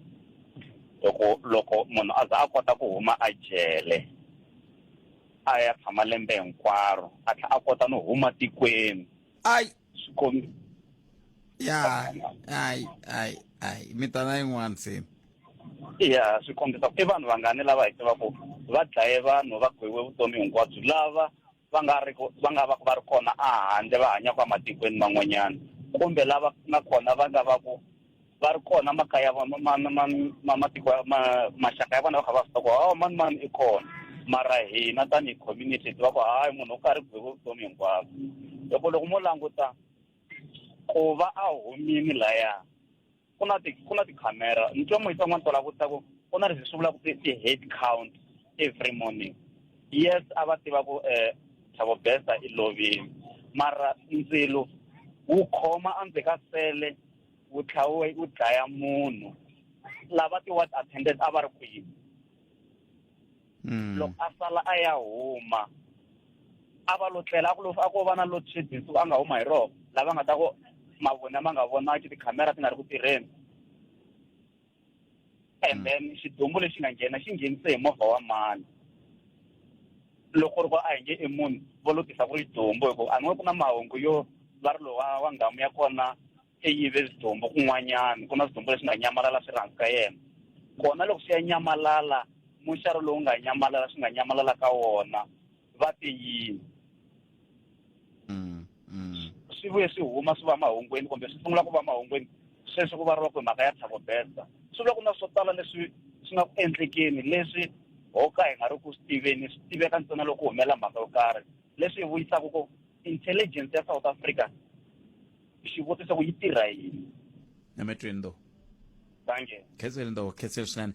loko loko munhu a za a kota ku huma a jele a ya tshama lembe hinkwaro a tlhela a kota no huma tikweni ai swikombi ya hayi hayi hayi mi ta na yin'wana se ya swi kombisa ku i vanhu vangani lava hi tivaku va dlaye vanhu va gwewe vutomi hinkwabyo lava va nga ri va nga va ku va ri kona a handle va hanyaka ematikweni man'wanyana kumbe lava na kona va nga va ku va ri kona makaya ma ma ma ma matiko ma maxaka ya vona va kha va swi tiva ku hawa mani mani i kona mara hina tanihi community hi tiva ku hayi munhu u karhi ku byiwe vutomi hinkwabyo loko loko mo languta ku va a humini laya ku na ti ku na tikhamera ni twa moyisa n'wana tola vutisa ku ku na leswi swi vulaka ti-head count every morning yes a va tiva ku um thabo besta i lovile mara ndzilo wu khoma endzhe ka sele wu tlhawe wu dlaya munhu lava ti-ward attendant a va ri kwihi hmm. loko a sala a ya huma a va lo tlela a ku lo a ko va na load shedding so a nga huma hi roho lava nga ta ku mavona ma nga vonaki tikhamera ti nga ri ku tirheni and then xidumbu lexi nga nghena xi nghenise hi movha wa mani loko ri ku a hi nge i munhu vo lutisa ku ri xidumbu hikuva a ni ku na mahungu yo va ri lowa wa nghamu ya kona i yive swidumbu kun'wanyana ku na swidumbu leswi nga nyamalala swi rhandzi ka yena kona loko swi ya nyamalala muxari lowu nga nyamalala swi nga nyamalala ka wona va te yini Mm, mm. swi vuye swi huma swi va mahungwini kumbe swi sungula ku va mahungwini sweswi ku variwa ku hi mhaka ya thabo besta swi vula ku na swo tala leswi swi nga ku endlekeni leswi ho ka hi nga ri ku swi tiveni swi tiveka ntsena loko humela mhaka yo karhi leswi hi vuyisaka ku intelligence ya south africa xivutiso ku yi tirha yini emetweni though thank you khetseli though khetseli swinene